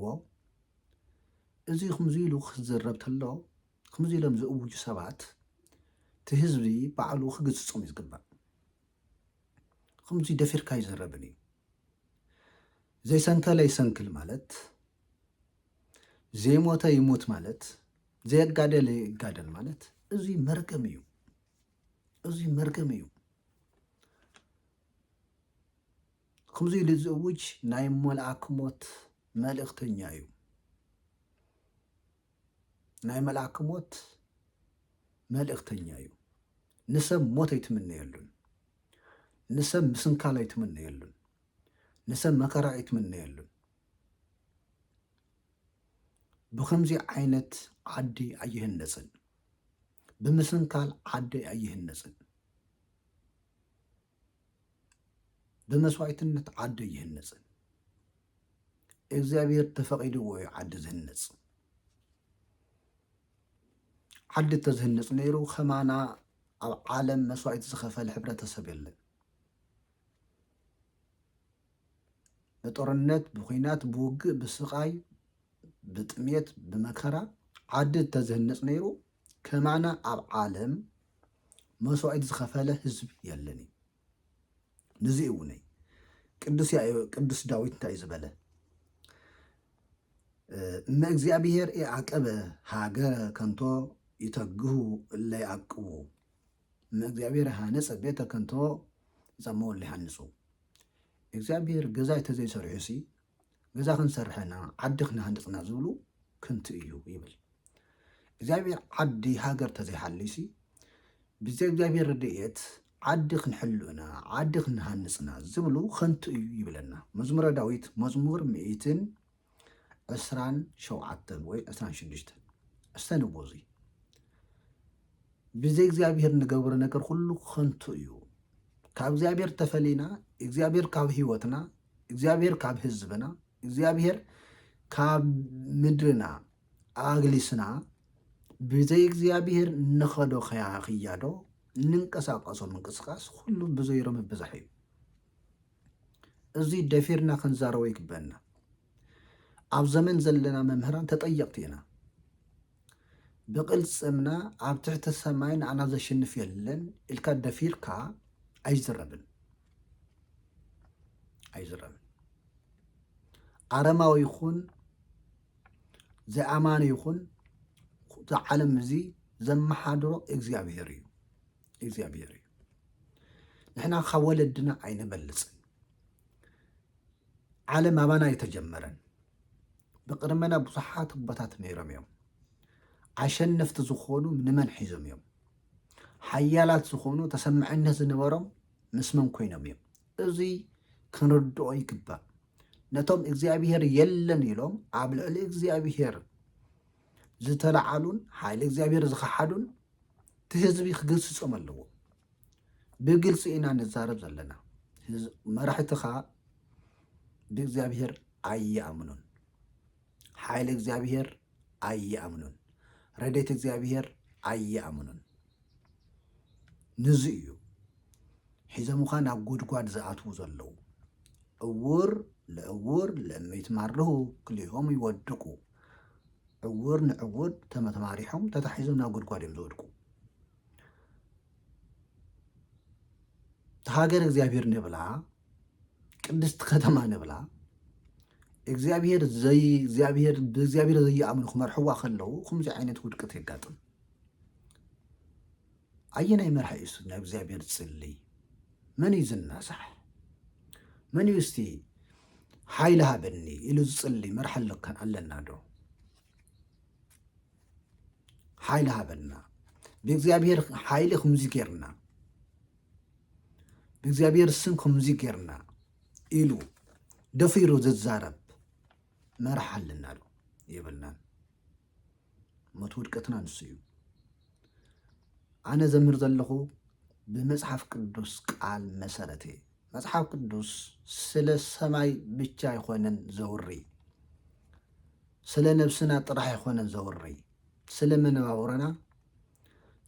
ኣለዎ። እዚ ከምዚ ኢሉ ክዝረብ ተሎ ከምዚ ኢሎም ዝእውጁ ሰባት እቲ ህዝቢ ባዕሉ ክግስጾም እዩ ዝግባእ። ከምዚ ደፊርካ ኣይዝረብን እዩ። ዘይሰንከለ ይሰንክል ማለት ዘይሞተ ይሙት ማለት ዘየጋደለ ይጋደል ማለት እዚ መርገም እዩ። እዚ መርገም እዩ። ከምዚ ኢሉ ዝእውጅ ናይ መልኣክ ሞት መልእኽተኛ እዩ። ናይ መልኣክ ሞት መልእኽተኛ እዩ። ንሰብ ሞት ኣይትምነየሉን። ንሰብ ምስንካል ኣይትምነየሉን። ንሰብ መከራ ኣይትምነየሉን። ብከምዚ ዓይነት ዓዲ ኣይህነፅን። ብምስንካል ዓዲ ኣይህነፅን። ብመስዋእትነት ዓዱ ኣይህነፅን። እግዚኣብሔር ተፈቒድዎ እዩ ዓዲ ዝህነፅ። ዓዲ ተዝህነፅ ነይሩ ከማና ኣብ ዓለም መስዋእቲ ዝኸፈለ ሕብረተሰብ የለን። ብጦርነት ብኩናት ብውግእ ብስቃይ ብጥሜት ብመከራ ዓዲ ተዝህነፅ ነይሩ ከማና ኣብ ዓለም መስዋኢት ዝኸፈለ ህዝብ የለን እዩ ንዚ እውነይ ቅዱስ ዳዊት እንታይ ዝበለ እመ እግዚኣብሔር የዓቀበ ሃገረ ከንቶ ይተግሁ እለ ይዓቅቡ እመ እግዚአብሔር ሃነፀ ቤተ ከንቶ ይፀመው እለ ይሃንፁ እግዚኣብሄር ገዛ እንተዘይሰሪሑሲ ገዛ ክንሰርሕ ኢና፣ ዓዲ ክንሃንፅ ኢና ዝብሉ ከንቱ እዩ ይብል። እግዚኣብሄር ዓዲ ሃገር እንተዘይሃልዩሲ ብዘይ እግዚኣብሄር ረድኤት ዓዲ ክንሕሉ ኢና፣ ዓዲ ክንሃንፅ ኢና ዝብሉ ከንቱ እዩ ይብለና። መዝሙረ ዳዊት መዝሙር ምኢትን ዕስራን ሸውዓተን ወይ ዕስራን ሽዱሽተን ሕሰንዎ እዙይ ብዘይ እግዚኣብሔር ንገብሮ ነገር ኩሉ ከንቱ እዩ። ካብ እግዚኣብሔር ተፈሊና እግዚኣብሔር ካብ ህይወትና፣ እግዚኣብሔር ካብ ህዝብና፣ እግዚኣብሔር ካብ ምድርና ኣግሊስና ብዘይ እግዚኣብሔር ንኸዶ ክያዶ ንንቀሳቀሶ ምንቅስቃስ ኩሉ ብዘይሮ ምብዛሕ እዩ። እዚ ደፊርና ክንዛረቦ ይግበኣና። ኣብ ዘመን ዘለና መምህራን ተጠየቕቲ ኢና። ብቕልጽምና ኣብ ትሕቲ ሰማይ ንዓና ዘሽንፍ የለን ኢልካ ደፊርካ ኣይዝረብን ኣይዝረብን። ኣረማዊ ይኹን ዘይኣማኒ ይኹን እቲ ዓለም እዚ ዘመሓድሮ እግዚኣብሄር እዩ። እግዚኣብሔር እዩ ንሕና ካብ ወለድና ኣይንበልፅን ዓለም ኣባና ኣይተጀመረን ብቅድመና ብዙሓት ኣቦታት ነይሮም እዮም ኣሸነፍቲ ዝኾኑ ንመን ሒዞም እዮም ሓያላት ዝኾኑ ተሰማዕነት ዝነበሮም ምስ መን ኮይኖም እዮም እዚ ክንርድኦ ይግባእ ነቶም እግዚኣብሔር የለን ኢሎም ኣብ ልዕሊ እግዚኣብሔር ዝተለዓሉን ሓይሊ እግዚኣብሔር ዝኸሓዱን እቲ ህዝቢ ክገስፆም ኣለዎ። ብግልፂ ኢና ንዛረብ ዘለና። መራሕትኻ ብእግዚኣብሔር ኣይኣምኑን፣ ሓይሊ እግዚኣብሔር ኣይኣምኑን፣ ረድኤት እግዚኣብሔር ኣይኣምኑን። ንዚ እዩ ሒዞምኻ ናብ ጉድጓድ ዝኣትዉ ዘለዉ። እውር ለእውር ለመይትማርሁ ክልኦም ይወድቁ ዕውር ንዕውር ተመተማሪሖም ተታሒዞም ናብ ጉድጓድ እዮም ዝወድቁ ሃገር እግዚኣብሔር ንብላ ቅድስቲ ከተማ ንብላ እግዚኣብሔር ዘይ እግዚኣብሔር ብእግዚኣብሔር ዘይኣምኑ ክመርሕዋ ከለዉ ከምዚ ዓይነት ውድቀት የጋጥም ኣየናይ መራሒ እዩ እስቲ ናብ እግዚኣብሔር ዝጽልይ? መን እዩ ዝናሳሕ? መን እዩ እስቲ ሓይሊ ሃበኒ ኢሉ ዝጽልይ መራሒ ኣለና ዶ? ሓይሊ ሃበና ብእግዚኣብሔር ሓይሊ ከምዚ ጌርና ብእግዚኣብሔር ስም ከምዚ ጌርና ኢሉ ደፊሩ ዝዛረብ መራሕ ኣለና ዶ የብልናን ሞት ውድቀትና ንሱ እዩ ኣነ ዘምህር ዘለኹ ብመጽሓፍ ቅዱስ ቃል መሰረት እየ መጽሓፍ ቅዱስ ስለ ሰማይ ብቻ ኣይኮነን ዘውሪ ስለ ነብስና ጥራሕ ኣይኮነን ዘውሪ ስለ መነባብሮና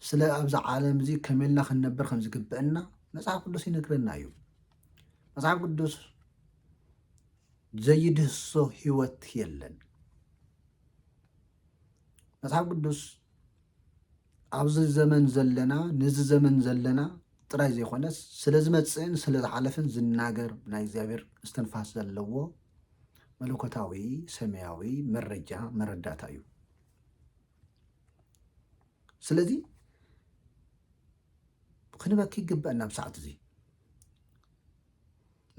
ስለ ኣብዚ ዓለም እዚ ከመልና ክንነብር ከም ዝግብአና መጽሓፍ ቅዱስ ይነግረና እዩ መጽሓፍ ቅዱስ ዘይድህሶ ህይወት የለን። መጽሓፍ ቅዱስ ኣብዚ ዘመን ዘለና ነዚ ዘመን ዘለና ጥራይ ዘይኮነስ ስለ ዝመፅእን ስለ ዝሓለፍን ዝናገር ናይ እግዚኣብሔር እስትንፋስ ዘለዎ መለኮታዊ ሰማያዊ መረጃ መረዳእታ እዩ ስለዚ ክንበኪ ይግበአና ኣብ ሰዓት እዚ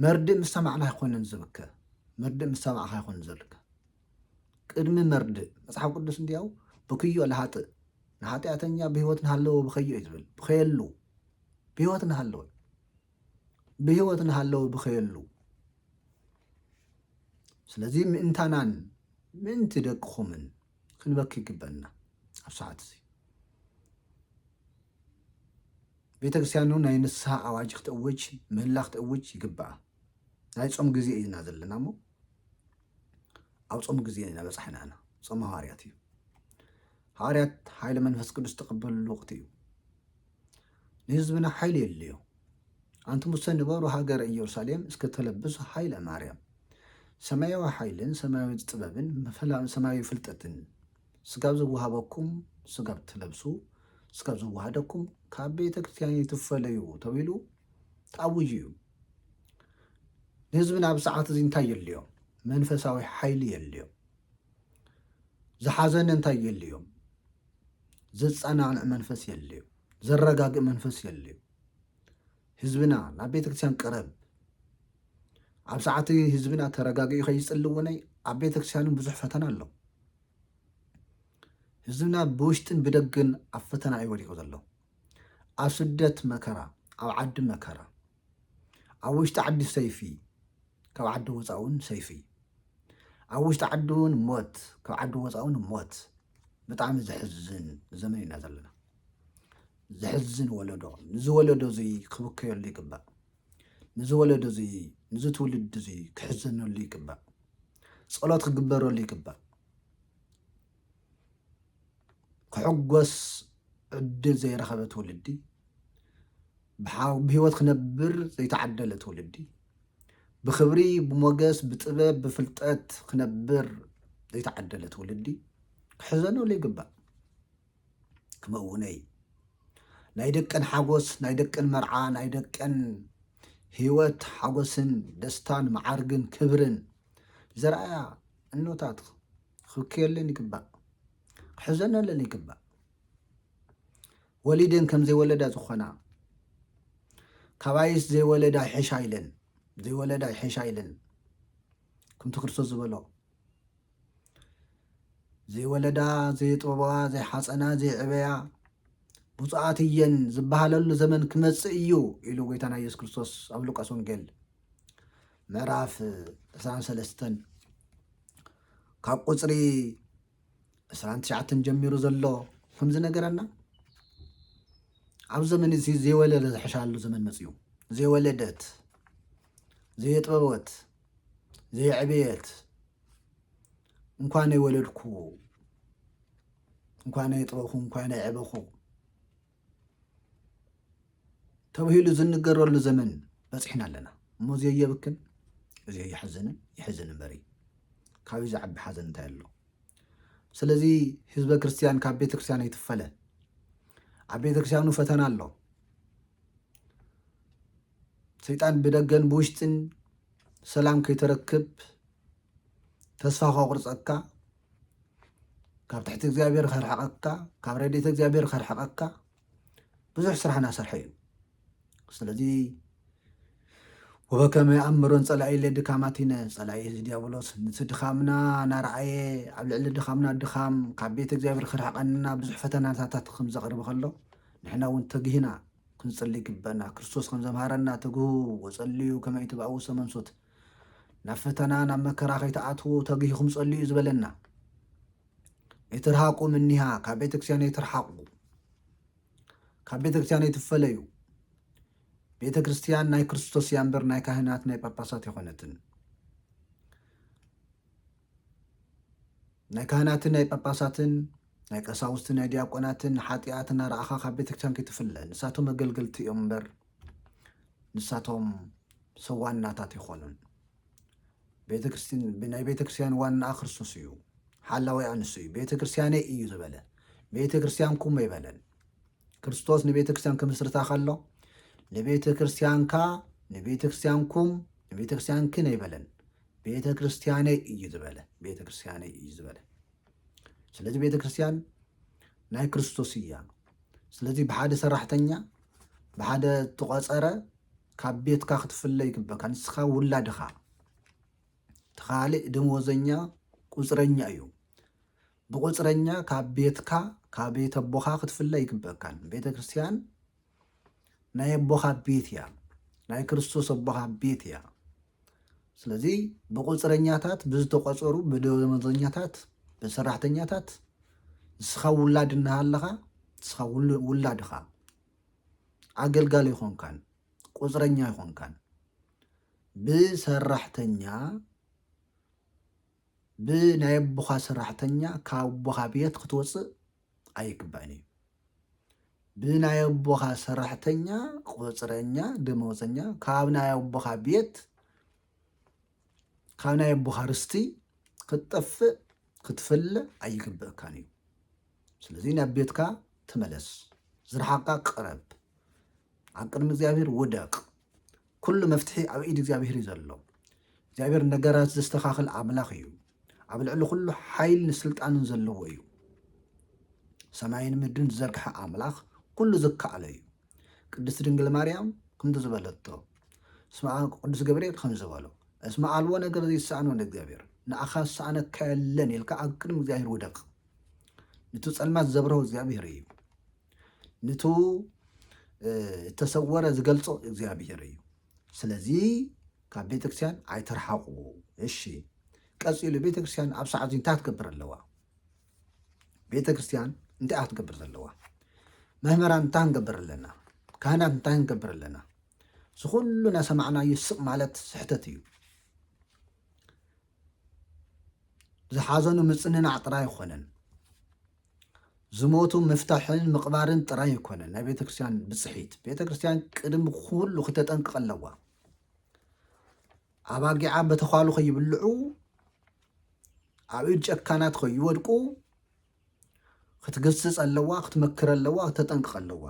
መርድእ ምስ ሰማዕና ኣይኮነን ዝብከ መርድእ ምስ ሰማዕካ ኣይኮነን ዘልከ ቅድሚ መርድእ መጽሓፍ ቅዱስ እንዲያው ብክዮ ለሃጥእ ንሓጢኣተኛ ብህይወት ንሃለወ ብኸዮ እዩ ዝብል ብኸየሉ ብህይወት ንሃለወ ብህይወት ንሃለወ ብኸየሉ ስለዚ ምእንታናን ምእንቲ ደቅኹምን ክንበኪ ይግበና ኣብ ሰዓት እዚ ቤተ ክርስትያኑ ናይ ንስሃ ኣዋጅ ክትእውጅ ምህላ ክትእውጅ ይግብኣ ናይ ጾም ግዜ እዩና ዘለና እሞ ኣብ ጾም ግዜ ኢና በጻሕና ኢና ጾም ሃዋርያት እዩ ሃዋርያት ሓይለ መንፈስ ቅዱስ ተቐበልሉ ወቕቲ እዩ ንህዝብና ሓይሊ የድልዮ ኣንቲ ሙሰ ንበሩ ሃገረ ኢየሩሳሌም እስከ ተለብሱ ሓይለ ማርያም ሰማያዊ ሓይልን ሰማያዊ ጥበብን ሰማያዊ ፍልጠትን ስጋብ ዝወሃበኩም ስጋብ ትለብሱ ስጋብ ዝወሃደኩም ካብ ቤተ ክርስትያን ኣይትፈለዩ ተብሂሉ ተኣዊጁ እዩ። ንህዝብና ኣብ ሰዓት እዚ እንታይ የድልዮም? መንፈሳዊ ሓይሊ የድልዮም። ዝሓዘነ እንታይ የድልዮም? ዘጸናንዕ መንፈስ የድልዮ፣ ዘረጋግእ መንፈስ የድልዮ። ህዝብና ናብ ቤተክርስትያን ቅረብ ኣብ ሰዓት ህዝብና ተረጋጊዑ ከይፅሊ እውን ኣብ ቤተክርስትያንን ብዙሕ ፈተና ኣሎ ህዝብና ብውሽጥን ብደግን ኣብ ፈተና እዩ ወዲቁ ዘሎ ኣብ ስደት መከራ ኣብ ዓዲ መከራ ኣብ ውሽጢ ዓዲ ሰይፊ ካብ ዓዲ ወፃእ እውን ሰይፊ ኣብ ውሽጢ ዓዲ እውን ሞት ካብ ዓዲ ወፃእ እውን ሞት ብጣዕሚ ዘሕዝን ዘመን ኢና ዘለና ዘሕዝን ወለዶ ንዚ ወለዶ እዚ ክብከየሉ ይግባእ ንዚ ወለዶ እዚ ንዚ ትውልዲ እዚ ክሕዘነሉ ይግባእ ጸሎት ክግበረሉ ይግባእ ክሕጎስ ዕድል ዘይረኸበ ትውልዲ ብህይወት ክነብር ዘይተዓደለ ትውልዲ ብክብሪ ብሞገስ ብጥበብ ብፍልጠት ክነብር ዘይተዓደለ ትውልዲ ክሕዘነሉ ይግባእ ክመውነይ ናይ ደቀን ሓጎስ ናይ ደቀን መርዓ ናይ ደቀን ህይወት ሓጎስን ደስታን መዓርግን ክብርን ዘርኣያ እኖታት ክብክየለን ይግባእ ክሕዘነለን ይግባእ ወሊደን ከም ዘይወለዳ ዝኾና ካባይስ ዘይወለዳ ይሕሻ ኢለን ዘይወለዳ ይሕሻ ኢለን ከምቲ ክርስቶስ ዝበሎ ዘይወለዳ ዘየጥበባዋ ዘይሓፀና ዘይዕበያ ብፁዓት እየን ዝበሃለሉ ዘመን ክመፅእ እዩ ኢሉ ጎይታና ኢየሱስ ክርስቶስ ኣብ ሉቃስ ወንጌል ምዕራፍ 23 ካብ ቁፅሪ 29 ጀሚሩ ዘሎ ከምዚ ነገረና ኣብ ዘመን እዚ ዘይወለደ ዝሕሻሉ ዘመን መፅኡ ዘይወለደት ዘየጥበበት ዘየዕበየት እንኳነይ ወለድኩ እንኳነይ ጥበኹ እንኳነይ ዕበኹ ተብሂሉ ዝንገረሉ ዘመን በፂሕና ኣለና እሞ እዚ የብክን እዚ የሕዝንን ይሕዝን እምበሪ ካብዩ ዝዓቢ ሓዘን እንታይ ኣሎ ስለዚ ህዝበ ክርስትያን ካብ ቤተክርስትያን ኣይትፈለ ኣብ ቤተክርስትያኑ ፈተና ኣሎ ሰይጣን ብደገን ብውሽጥን ሰላም ከይተረክብ ተስፋ ከቁርፀካ ካብ ትሕቲ እግዚኣብሔር ከርሕቐካ ካብ ረድኤተ እግዚኣብሔር ከርሕቐካ ብዙሕ ስራሕ እናሰርሐ እዩ ስለዚ ወበከመ ኣምሮን ፀላኢ ለድካማቲነ ፀላኢ እዚ ዲያብሎስ ንቲ ድኻምና ናረኣየ ኣብ ልዕሊ ድኻምና ድኻም ካብ ቤት እግዚኣብሔር ክርሕቀንና ብዙሕ ፈተናታት ከም ዘቕርብ ከሎ ንሕና እውን ተግሂና ክንጽሊ ይግበና ክርስቶስ ከምዘምሃረና ትግሁ ወጸልዩ ከመይ ትብኣው ሰመንሶት ናብ ፈተና ናብ መከራ ከይትኣትዉ ተግሂኹም ጸልዩ ዝበለና የትርሃቁ ምኒሃ ካብ ቤተክርስቲያን የትርሓቁ ካብ ቤተክርስቲያን የትፈለዩ ቤተክርስቲያን ናይ ክርስቶስ እያ እምበር ናይ ካህናት ናይ ጳጳሳት የኾነትን ናይ ካህናትን ናይ ጳጳሳትን ናይ ቀሳውስትን ናይ ዲያቆናትን ሓጢኣት እናረኣኻ ካብ ቤተ ክርስቲያን ከይትፍለ ንሳቶም ኣገልገልቲ እዮም እምበር ንሳቶም ሰብ ዋናታት ኣይኮኑን። ቤተ ክርስቲያን ናይ ቤተ ክርስቲያን ዋናኣ ክርስቶስ እዩ፣ ሓላዊኣ ንሱ እዩ። ቤተ ክርስቲያነይ እዩ ዝበለ ቤተ ክርስቲያንኩም ኣይበለን። ክርስቶስ ንቤተ ክርስቲያን ክምስርታ ከሎ ንቤተ ክርስቲያንካ ንቤተ ክርስቲያንኩም ንቤተ ክርስቲያንክን ኣይበለን። ቤተ ክርስቲያነይ እዩ ዝበለ ቤተ ክርስቲያነይ እዩ ዝበለ ስለዚ ቤተ ክርስቲያን ናይ ክርስቶስ እያ ስለዚ ብሓደ ሰራሕተኛ ብሓደ ተቆፀረ ካብ ቤትካ ክትፍለ ይግበካ ንስኻ ውላድኻ ተኻሊእ ደመወዘኛ ቁፅረኛ እዩ ብቁፅረኛ ካብ ቤትካ ካብ ቤተ ኣቦኻ ክትፍለ ይግበካን ቤተ ክርስቲያን ናይ ኣቦኻ ቤት እያ ናይ ክርስቶስ ኣቦኻ ቤት እያ ስለዚ ብቁፅረኛታት ብዝተቆፀሩ ብደመዘኛታት ብሰራሕተኛታት ንስኻ ውላድ እናሃለኻ ንስኻ ውላድኻ ኣገልጋሊ ይኾንካን ቁፅረኛ ይኾንካን ብሰራሕተኛ ብ ናይ ኣቦኻ ሰራሕተኛ ካብ ኣቦኻ ቤት ክትወጽእ ኣይግባእን እዩ። ብ ናይ ኣቦኻ ሰራሕተኛ፣ ቁጽረኛ፣ ደመወዘኛ ካብ ናይ ኣቦኻ ቤት ካብ ናይ ኣቦኻ ርስቲ ክትጠፍእ ክትፍለ ኣይግብእካን እዩ። ስለዚ ናብ ቤትካ ተመለስ፣ ዝረሓቕካ ቅረብ፣ ኣብ ቅድሚ እግዚኣብሔር ውደቅ፣ ኩሉ መፍትሒ ኣብ ኢድ እግዚኣብሄር እዩ ዘሎ። እግዚኣብሄር ነገራት ዘስተኻኽል ኣምላኽ እዩ። ኣብ ልዕሊ ኩሉ ሓይልን ስልጣንን ዘለዎ እዩ። ሰማይን ምድርን ዝዘርግሐ ኣምላኽ ኩሉ ዝከኣሎ እዩ። ቅድስቲ ድንግል ማርያም ከምቲ ዝበለቶ እስመ ቅዱስ ገብርኤል ከም ዝበሎ እስመ ኣልቦ ነገር ዘይሰኣኖ ንእግዚኣብሔር ንኣኻ ዝሰኣነካ የለን ኢልካ ኣብ ቅድሚ እግዚኣብሔር ውደቕ። ነቲ ጸልማት ዘብርሆ እግዚኣብሔር እዩ። ንቱ እተሰወረ ዝገልጾ እግዚኣብሔር እዩ ስለዚ ካብ ቤተክርስቲያን ኣይትርሓቁ እሺ ቀጺሉ ቤተክርስቲያን ኣብ ሰዓት እንታይ ትገብር ኣለዋ ቤተክርስቲያን እንታይ እያ ትገብር ዘለዋ መምህራን እንታይ ንገብር ኣለና ካህናት እንታይ ንገብር ኣለና እዚ ኩሉ ናሰማዕናዩ ስቕ ማለት ስሕተት እዩ ዝሓዘኑ ምፅንናዕ ጥራይ ኣይኮነን ዝሞቱ ምፍታሕን ምቕባርን ጥራይ ኣይኮነን ናይ ቤተ ክርስቲያን ብፅሒት። ቤተ ክርስቲያን ቅድሚ ኩሉ ክተጠንቅቕ ኣለዋ። ኣባጊዓ በተዃሉ ከይብልዑ ኣብ ኢድ ጨካናት ከይወድቁ ክትገስፅ ኣለዋ፣ ክትመክር ኣለዋ፣ ክተጠንቅቕ ኣለዋ።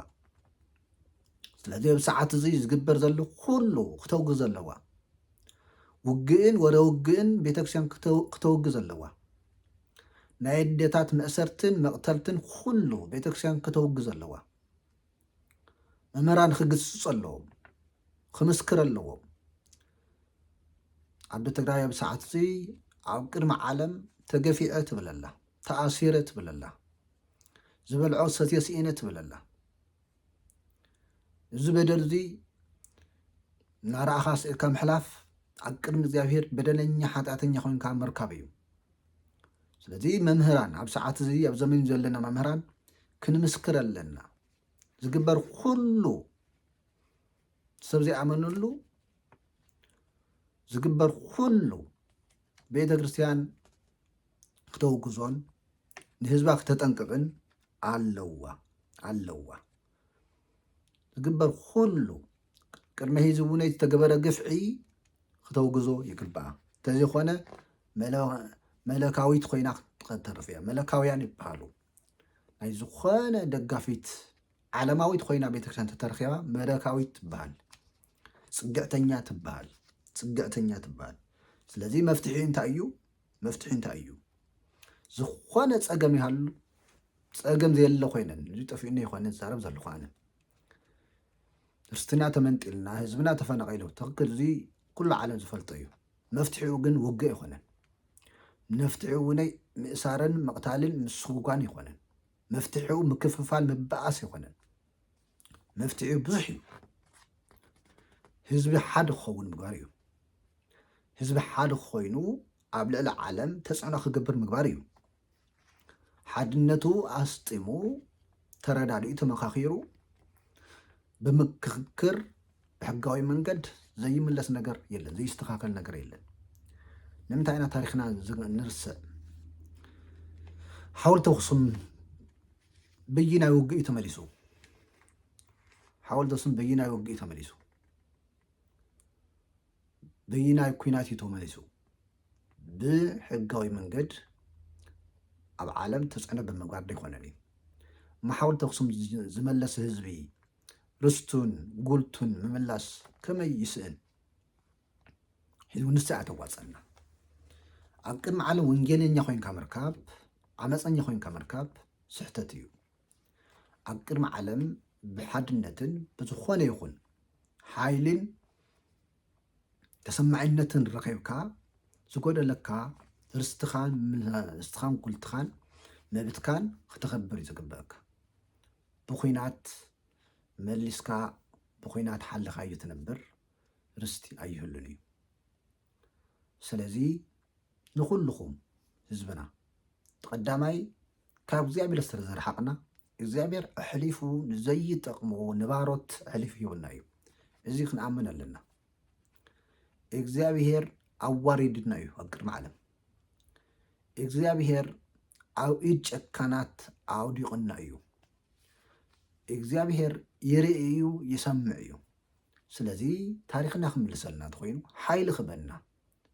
ስለዚ ኣብ ሰዓት እዚ ዝግበር ዘሎ ኩሉ ክተውግዝ ኣለዋ። ውግእን ወረ ውግእን ቤተክርስቲያን ክተውግዝ ኣለዋ። ናይ ኣዴታት መእሰርትን መቅተልትን ኩሉ ቤተክርስቲያን ከተውግዞ ኣለዋ መምህራን ክግስጹ ኣለዎም ክምስክር ኣለዎም ዓዲ ትግራይ ኣብ ሰዓት እዚ ኣብ ቅድሚ ዓለም ተገፊዐ ትብል ኣላ ተኣሲረ ትብል ኣላ ዝበልዖ ሰትዮ ስኢነ ትብል ኣላ እዚ በደል እዚ እናረኣኻ ስእካ ምሕላፍ ኣብ ቅድሚ እግዚኣብሄር በደለኛ ሓጢኣተኛ ኮይንካ ምርካብ እዩ ስለዚ መምህራን ኣብ ሰዓት እዚ ኣብ ዘመን ዘለና መምህራን ክንምስክር ኣለና ዝግበር ኩሉ ሰብ ዘይኣመነሉ ዝግበር ኩሉ ቤተ ክርስቲያን ክተውግዞን ንህዝባ ክተጠንቅቕን ኣለዋ ኣለዋ ዝግበር ኩሉ ቅድመ ሂዚ እውን ዝተገበረ ግፍዒ ክተውግዞ ይግባኣ እንተዘይኮነ መለካዊት ኮይና ክትተርፍ እያ መለካውያን ይበሃሉ ናይ ዝኾነ ደጋፊት ዓለማዊት ኮይና ቤተክርስትያን ተተረኪባ መለካዊት ትበሃል ፅግዕተኛ ትበሃል ፅግዕተኛ ትበሃል ስለዚ መፍትሒ እንታይ እዩ መፍትሒ እንታይ እዩ? ዝኾነ ፀገም ይሃሉ ፀገም ዘየለ ኮይነን እዚ ጠፊኡኒ ይኮነ ዝዛረብ ዘለኹ ኣነ ርስትና ተመንጢልና ህዝብና ተፈናቂሉ ትክክል እዚ ኩሉ ዓለም ዝፈልጦ እዩ መፍትሒኡ ግን ውግእ ኣይኮነን መፍትሒኡ ውነይ ምእሳርን ምቕታልን ምስጉጓን ይኮነን መፍትሒኡ ምክፍፋል ምበኣስ ይኮነን መፍትሒኡ ብዙሕ እዩ ህዝቢ ሓደ ክኸውን ምግባር እዩ ህዝቢ ሓደ ኮይኑ ኣብ ልዕሊ ዓለም ተፅዕኖ ክገብር ምግባር እዩ ሓድነቱ ኣስጢሙ ተረዳዲኡ ተመካኪሩ ብምክክር ብሕጋዊ መንገድ ዘይምለስ ነገር የለን፣ ዘይስተኻኸል ነገር የለን። ንምንታይ ኢና ታሪኽና ንርስዕ? ሓወልቲ ኣኽሱም በየናይ ውግእ እዩ ተመሊሱ? ሓወልቲ ኣኽሱም በየናይ ውግእ እዩ ተመሊሱ? በየናይ ኩናት እዩ ተመሊሱ? ብሕጋዊ መንገድ ኣብ ዓለም ተፅዕኖ ብምግባር ዘይኮነን እዩ። ማሓወልቲ ኣኽሱም ዝመለሰ ህዝቢ ርስቱን ጉልቱን ምምላስ ከመይ ይስእን ሕዝቡ ንሳ እያ ተዋፀና ኣብ ቅድሚ ዓለም ወንጌለኛ ኮይንካ ምርካብ ዓመፀኛ ኮይንካ ምርካብ ስሕተት እዩ ኣብ ቅድሚ ዓለም ብሓድነትን ብዝኾነ ይኹን ሓይልን ተሰማዒነትን ረኺብካ ዝጎደለካ ርስትኻን ርስትኻን ጉልትኻን መብትካን ክተኸብር እዩ ዝግበአካ ብኩናት መሊስካ ብኩናት ሓልኻዩ ትነብር ርስቲ ኣይህሉን እዩ ስለዚ ንኩልኹም ህዝብና ቀዳማይ ካብ እግዚኣብሔር ስለ ዝረሓቅና እግዚኣብሔር ኣሕሊፉ ንዘይጠቅሞ ንባሮት ኣሕሊፉ ሂቡና እዩ እዚ ክንኣምን ኣለና እግዚኣብሔር ኣዋሪድና እዩ ኣብ ቅድሚ ዓለም እግዚኣብሄር ኣብ ኢድ ጨካናት ኣውዲቑና እዩ። እግዚኣብሄር ይርኢ እዩ ይሰምዕ እዩ። ስለዚ ታሪኽና ክምልሰልና እንተኮይኑ ሓይሊ ክበና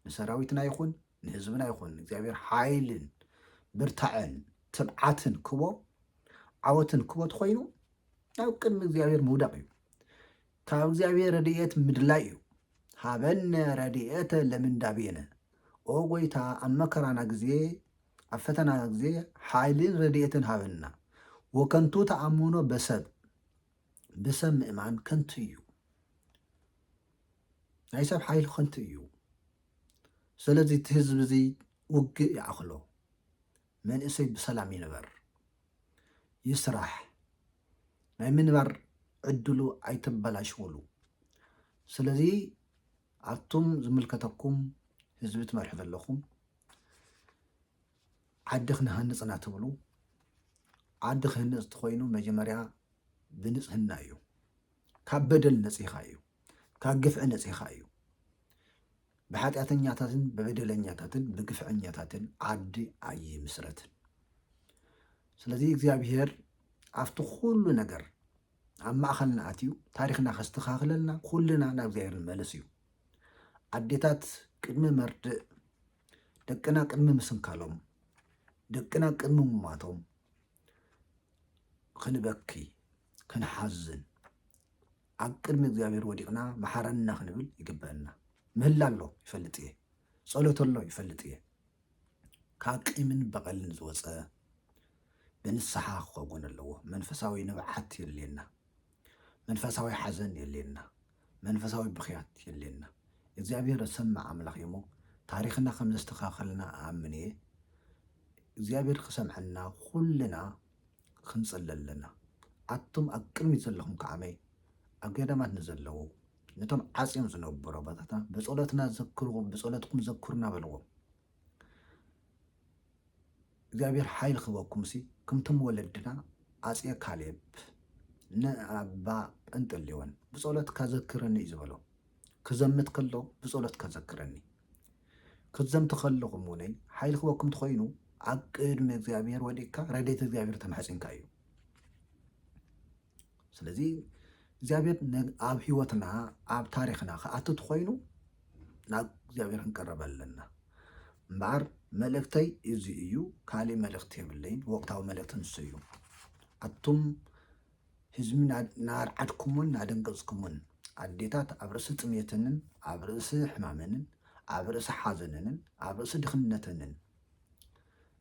ንሰራዊትና ይኹን ንህዝብና ይኹን እግዚኣብሔር ሓይልን ብርታዐን ትብዓትን ክቦ ዓወትን ክቦ ተኮይኑ ናብ ቅድሚ እግዚኣብሔር ምውዳቕ እዩ ካብ እግዚኣብሔር ረድኤት ምድላይ እዩ። ሀበነ ረድኤተ ለምንዳቤነ ኦ ጎይታ ኣብ መከራና ጊዜ ኣብ ፈተናና ጊዜ ሓይልን ረድኤትን ሃበና። ወከንቱ ተኣምኖ በሰብ ብሰብ ምእማን ከንቱ እዩ። ናይ ሰብ ሓይሊ ከንቱ እዩ። ስለዚ እቲ ህዝቢ እዚ ውግእ ይኣኽሎ። መንእሰይ ብሰላም ይንበር ይስራሕ ናይ ምንባር ዕድሉ ኣይተበላሽውሉ ስለዚ ኣቱም ዝምልከተኩም ህዝቢ ትመርሑ ዘለኹም ዓዲ ክንሃንፅ ኢና ትብሉ ዓዲ ክህነፅ ትኮይኑ መጀመርያ ብንፅህና እዩ ካብ በደል ነፂኻ እዩ ካብ ግፍዒ ነፂኻ እዩ ብኃጢኣተኛታትን ብበደለኛታትን ብግፍዐኛታትን ዓዲ ኣይምስረትን። ስለዚ እግዚኣብሔር ኣብቲ ኩሉ ነገር ኣብ ማእኸልና ኣትዩ ታሪኽና ከስተኻኽለልና ኩልና ናብ እግዚኣብሔር ንመለስ እዩ። ኣዴታት ቅድሚ መርድእ ደቅና ቅድሚ ምስንካሎም ደቅና ቅድሚ ሙማቶም ክንበኪ ክንሓዝን ኣብ ቅድሚ እግዚኣብሔር ወዲቅና መሓረና ክንብል ይግበእና ምህላ ኣሎ ይፈልጥ እየ ጸሎት ኣሎ ይፈልጥ እየ ካብ ቂምን በቐልን ዝወጸ ብንስሓ ክኸውን ኣለዎ መንፈሳዊ ንብዓት የድልየና መንፈሳዊ ሓዘን የድልየና መንፈሳዊ ብኽያት የድልየና እግዚኣብሔር ዝሰምዕ ኣምላኽ እዩሞ ታሪኽና ከም ዘስተኻኸልና ኣኣምን እየ እግዚኣብሔር ክሰምዐና ኩልና ክንጽሊ ኣለና። ኣቱም ኣብ ቅድሚት ዘለኹም ከዓመይ ኣብ ገዳማት ንዘለዉ ነቶም ዓጽዮም ዝነብሩ ኣባታትና ብጸሎትና ዘክርዎም ብጸሎትኩም ዘክሩና በልዎም። እግዚኣብሔር ሓይሊ ክበኩምሲ ክምቶም ወለድና ኣጽየ ካሌብ ንኣባ ጰንጠሌዎን ብጸሎትካ ዘክረኒ እዩ ዝበሎ። ክዘምት ከሎ ብጸሎት ከዘክረኒ። ክትዘምቱ ከለኹም ውነይ ሓይሊ ክበኩም ትኾይኑ ኣብ ቅድሚ እግዚኣብሔር ወዲቅካ ረዴት እግዚኣብሔር ተማሕጺንካ እዩ። ስለዚ እግዚኣብሔር ኣብ ህይወትና ኣብ ታሪክና ክኣቱ ትኾይኑ ናብ እግዚኣብሔር ክንቀረበ ኣለና እምበኣር መልእክተይ እዚ እዩ ካሊእ መልእክቲ የብለይን ወቅታዊ መልእክቲ ንሱ እዩ ኣቱም ህዝቢ እናኣርዓድኩሞን እናደንገጽኩሞን፣ ኣዴታት ኣብ ርእሲ ጥምየተንን ኣብ ርእሲ ሕማመንን ኣብ ርእሲ ሓዘነንን ኣብ ርእሲ ድኽነተንን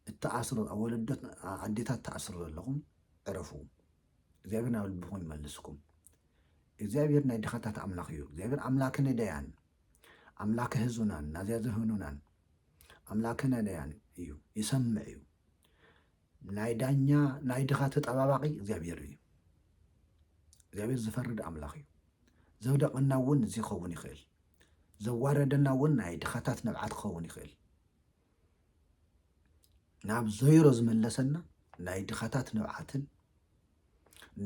እትኣስሩ ወለዶ ኣዴታት ትኣስሩ ዘለኹም ዕረፉ። እግዚኣብሔር ናብ ልብኹም ይመልስኩም። እግዚኣብሔር ናይ ድኻታት ኣምላኽ እዩ። እግዚኣብሔር ኣምላከ ነዳያን ኣምላከ ህዙናን ናዚያ ዘህኑናን ኣምላከ ነዳያን እዩ፣ ይሰምዕ እዩ። ናይ ዳኛ ናይ ድኻ ተጣባባቂ እግዚኣብሔር እዩ እግዚኣብሔር ዝፈርድ ኣምላኽ እዩ ዘውደቀና እውን እዚ ክኸውን ይኽእል ዘዋረደና እውን ናይ ድኻታት ንብዓት ክኸውን ይኽእል ናብ ዘይሮ ዝመለሰና ናይ ድኻታት ንብዓትን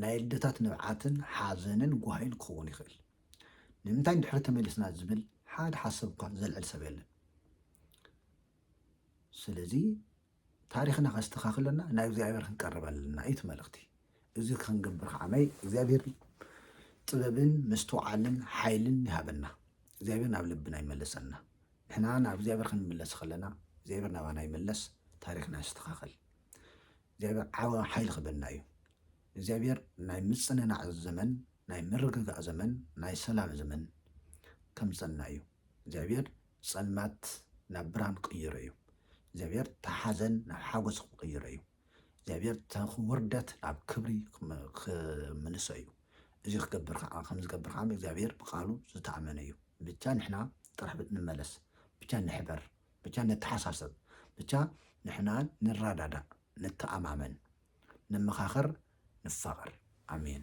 ናይ ልደታት ንብዓትን ሓዘንን ጓሂን ክኸውን ይኽእል ንምንታይ ድሕሪ ተመሊስና ዝብል ሓደ ሓሰብ እኳ ዘልዕል ሰብ የለን ስለዚ ታሪኽና ከስተኻኽለና ናብ እግዚኣብሔር ክንቀርብ ኣለና እዩ መልእኽቲ እዚ ክንገብር ከዓ ናይ እግዚኣብሔር ጥበብን ምስትውዓልን ሓይልን ይሃበና እግዚኣብሔር ናብ ልብና ይመለሰና ንሕና ናብ እግዚኣብሔር ክንምለስ ከለና እግዚኣብሔር ናባና ይመለስ ታሪኽና ይስተኻኸል እግዚኣብሔር ዓወ ሓይሊ ክበና እዩ እግዚኣብሔር ናይ ምፅንናዕ ዘመን ናይ ምርግጋእ ዘመን ናይ ሰላም ዘመን ከምፀና እዩ እግዚኣብሔር ጸልማት ናብ ብርሃን ክቕይሮ እዩ። እግዚኣብሄር እታ ሓዘን ናብ ሓጎስ ክቕይሮ እዩ። እግዚኣብሄር እታ ውርደት ናብ ክብሪ ክምልሶ እዩ። እዚ ክገብር ከዓ ከም ዝገብር ከዓ እግዚኣብሄር ብቃሉ ዝተኣመነ እዩ። ብቻ ንሕና ጥራሕ ንመለስ፣ ብቻ ንሕበር፣ ብቻ ነተሓሳሰብ፣ ብቻ ንሕና ንረዳዳእ፣ ንተኣማመን፣ ንመኻኸር፣ ንፋቐር። ኣሜን።